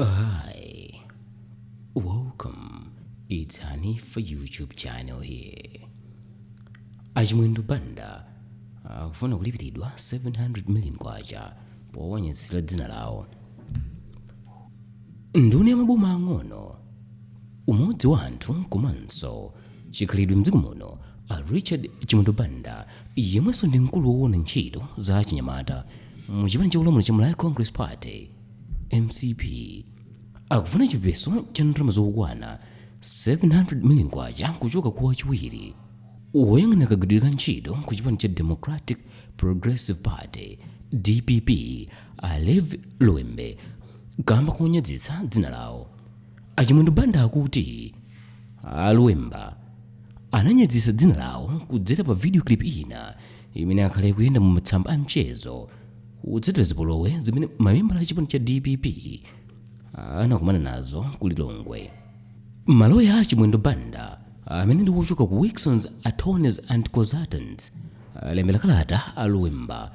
Hi, welcome. It's Honey for YouTube channel here. Achimwendo Banda akufuna kulipiridwa 700 million kwacha powanyazitsira dzina lawo. Nduna ya maboma ang'ono umodzi wa anthu komanso chikhalidwe mdziko muno a richard chimwendo banda yemwenso ndi mkulu woona ntchito za achinyamata mu chipani cholamula cha malawi congress party mcp akufuna chipeso cha ndalama zokwana 700 million kwacha kuchoka kwa wachiwiri woyang'anira kagwiridwe ka ntchito ku chipani cha democratic progressive party dpp a levi luwemba kamba konyazitsa dzina lawo achimwendo banda akuti a luwemba ananyazitsa dzina lawo kudzera pa video clip ina imene yakhala ikuyenda mu masamba a mchezo kutsatira zipolowe zimene mamembala a chipani cha dpp anakumana nazo ku lilongwe maloya a a chimwendo banda amene ndi wochoka ku wilsons attorneys and consultants alembera kalata a luwemba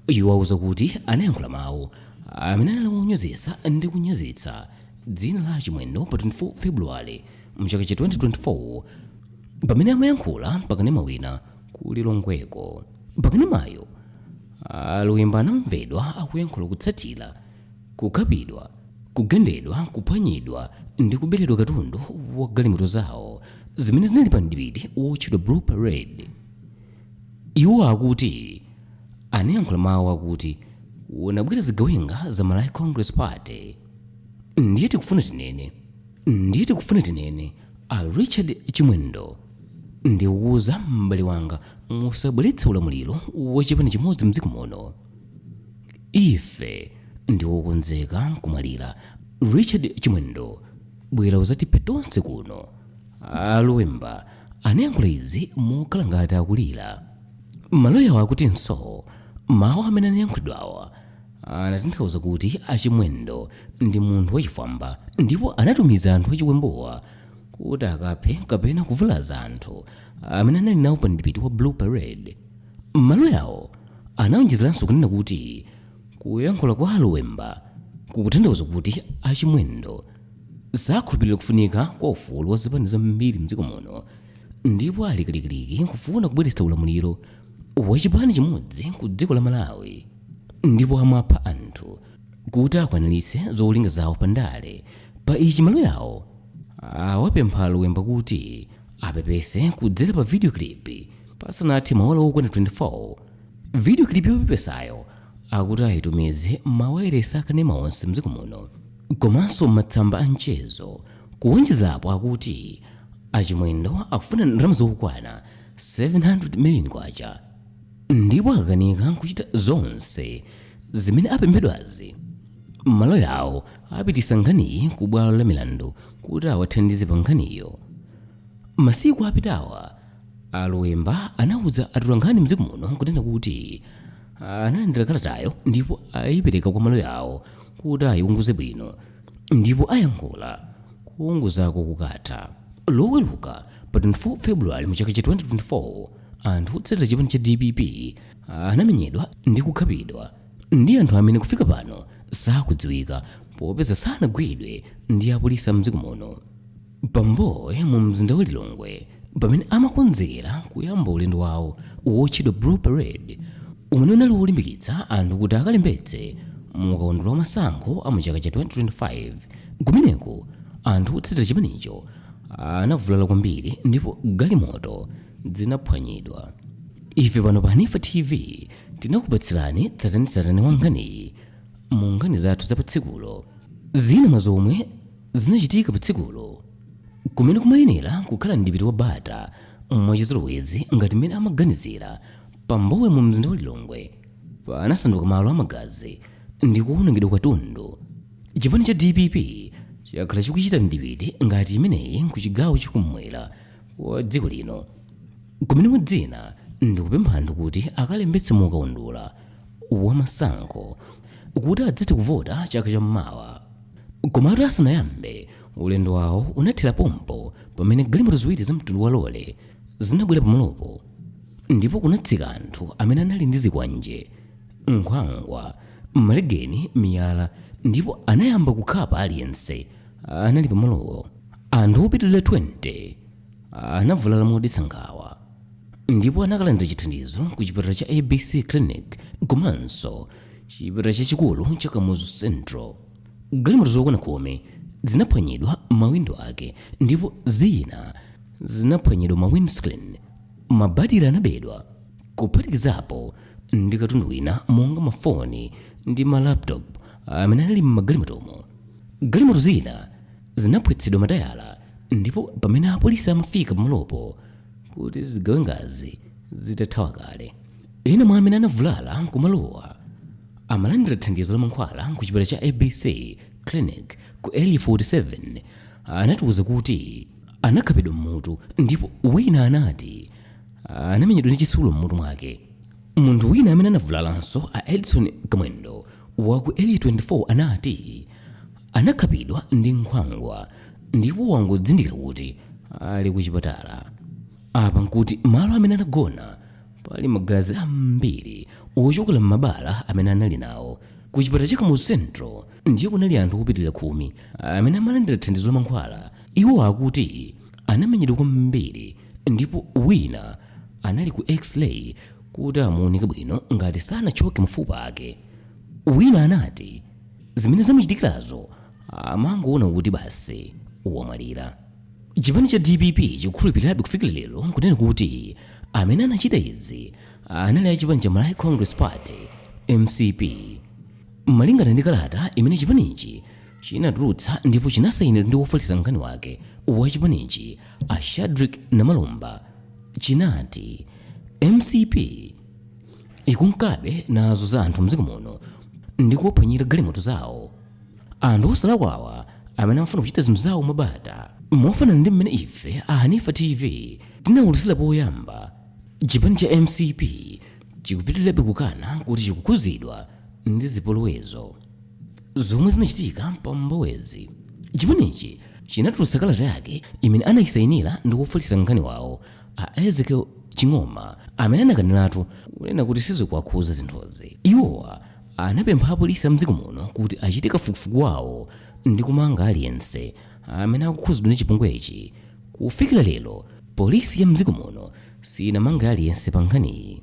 iwo auza kuti anayankhula mawu amene anali wonyozetsa ndi kunyazitsa dzina la a chimwendo pa 24 february mchaka cha 2024 pamene amayankhula pakanema wina ku lilongweko pakanemayo a luwemba anamvedwa akuyankhula kutsatira kukhapidwa kugendedwa kuphwanyidwa ndi kuberedwa katundu wa galimoto zawo zimene zinali pa mdipiti wotchedwa blue parade iwo akuti anayankhula mawu akuti kunabwera zigawenga za malawi congress party ndiye tikufuna tinene ndiye tikufuna tinene A Richard Chimwendo, ndikukuuza m'bale wanga, musabweretse ulamuliro wa chipani chimodzi m'dziko muno. Ife ndi okonzeka kumwalira. Richard Chimwendo, bwera udzatiphe tonse kuno. A Luwemba anayankhula izi mokhala ngati akulira. Maloyawo akutinso mawu amene anayankhulidwawa Anatanthauza kuti a Chimwendo ndi munthu wachifwamba ndipo anatumiza anthu achiwembuwa kuti akaphe kapena kuvulaza anthu amene anali nawo pa mdipiti wa Blue Parade. Maloyawo anaonjezeranso kunena kuti kuyankhula kwa a Luwemba kukutanthauza kuti a Chimwendo sakhulupirira kufunika kwa ufulu wa zipani zambiri m'dziko muno ndipo ali kalikiliki kufuna kubweretsa ulamuliro wa chipani chimodzi ku dziko la Malawi. ndipo amapha anthu kuti akwaniritse zolinga zawo pa ndale pa ichi maloya awo awapempha aluwemba kuti apepese kudzera pa video clip pasanathe maola okwana 24 video clip yopepesayo akuti ayitumize mmawayilesi akanema onse mdziko muno komanso mmatsamba a mchezo kuwonjezerapo akuti achimwendo akufuna ndalama zokwana 700 million kwacha ndipo akakanika kuchita zonse zimene apemphedwazi, maloya awo apititsa nkhaniyi ku bwalo la milandu kuti awathandize pa nkhaniyo. Masiku apitawa, a Luwemba anauza atolankhani m'dziko muno n'kunena kuti analandira kalatayo ndipo aipereka kwa maloya awo kuti aiunguze bwino ndipo ayankhula kuunguzako kukatha. Loweruka pa 24 February mu chaka cha 2024, anthu otsatira chipani cha dpp anamenyedwa ndi kukhapidwa ndi anthu amene kufika pano sakudziwika popeza sanagwidwe ndi apolisi mdziko muno pambowe mu mzinda wa lilongwe pamene amakonzekera kuyamba ulendo wawo wotchedwa blue parade umene unali wolimbikitsa anthu kuti akalembetse mu kaundula wa masankho a mu chaka cha 2025 kumeneko anthu otsatira chipanicho anavulala kwambiri ndipo galimoto zinaphwanyidwa ife pano pa hanifa tv tinakupatsirani tsatanetsatane wa nkhaniyi mu nkhani zathu za patsikulo zina mwa zomwe zinachitika patsikulo kumene kumayenera kukhala mdipiti wa bata mwachizolowezi ngati mmene amaganizira pambowe mu mzinda wa lilongwe panasanduka malo amagazi ndi kuwonongedwa kwa katundu chipani cha dpp chakhala chikuchita mdipiti ngati imeneyi ku chigawo chakumwera kwa dziko lino kumene mwa zina ndikupempha anthu kuti akalembetse mu kaundula wa masankho kuti adzathe kuvota chaka cha mmawa komatu asanayambe ulendo wawo unathera pompo pamene galimoto ziwiri za mtundu wa lole zinabwera pamalopo ndipo kunatsika anthu amene anali ndi zikwanje nkhwangwa malegeni miyala ndipo anayamba kukhapa aliyense anali pamalowo Anthu opitirira 20 anavulala modetsa nkhawa ndipo anakalandira chithandizo ku chipatala cha ABC Clinic komanso chipatala chachikulu cha Kamuzu Central. Galimoto zokwana khumi zinaphwanyidwa mawindo ake ndipo zina zinaphwanyidwa ma windscreen. Mabatire anabedwa kuphatikizapo ndi katundu wina monga mafoni ndi ma laptop amene anali m'magalimotomo. Galimoto zina zinaphwetsedwa matayala ndipo pamene apolisi amafika pamalopo nkuti zigawengazi zitathawa kale ena mwa amene anavulala kumalowa amalandira thandizo la mankhwala ku chipatala cha abc clinic ku area 47 anatiwuza kuti anakhapidwa mmutu ndipo wina anati anamenyedwa ndi chitsulo mmutu mwake munthu wina amene anavulalanso a edson kamwendo wa ku area 24 anati anakhapidwa ndi nkhwangwa ndipo wangodzindikira kuti ali ku chipatala apa nkuti malo amene anagona pali magazi ambiri ochokera m'mabala amene anali nawo ku chipatala cha kamuzu central ndiye kunali anthu opitirira khumi amene amalandira thandizo la mankhwala iwo akuti anamenyedwa kwambiri ndipo wina anali ku x-ray kuti amuunike bwino ngati sanathyoke mafupa ake wina anati zimene zamuchitikirazo amangoona kuti basi wamwalira chipani cha dpp chikukhulupirirabe kufikira lero kunena kuti amene anachita izi anali a chipani cha malawi congress party mcp malingana ndi kalata imene chipanichi chinatulutsa ndipo chinasayinidwa ndi wofalitsa nkhani wake wa chipanichi a shadrick namalomba chinati mcp ikunkabe nazunza anthu mdziko muno ndi kuwaphwanyira galimoto zawo anthu osalakwawa amene amafuna kuchita zinthu zawo mwabata mofanana ndi mmene ife a hanifa tv tinawuluzira poyamba chipani cha mcp chikupitirirabe kukana kuti chikukhuzidwa ndi zipolowezo zomwe zinachitika pa mbowezi chipanichi chinatulutsa kalata yake imene anachita kusayinira ndi wofalitsa nkhani wawo A Ezekiel Ching'oma amene anakaniratu kunena kuti sizikuwakhuza zinthuzi. Iwowa anapempha apolisi a mdziko muno kuti achite kafukufuku wawo ndi kumanga aliyense amene akukhuzidwa ndi chipongwechi. Kufikira lero, polisi ya mdziko muno siyinamange aliyense pa nkhaniyi.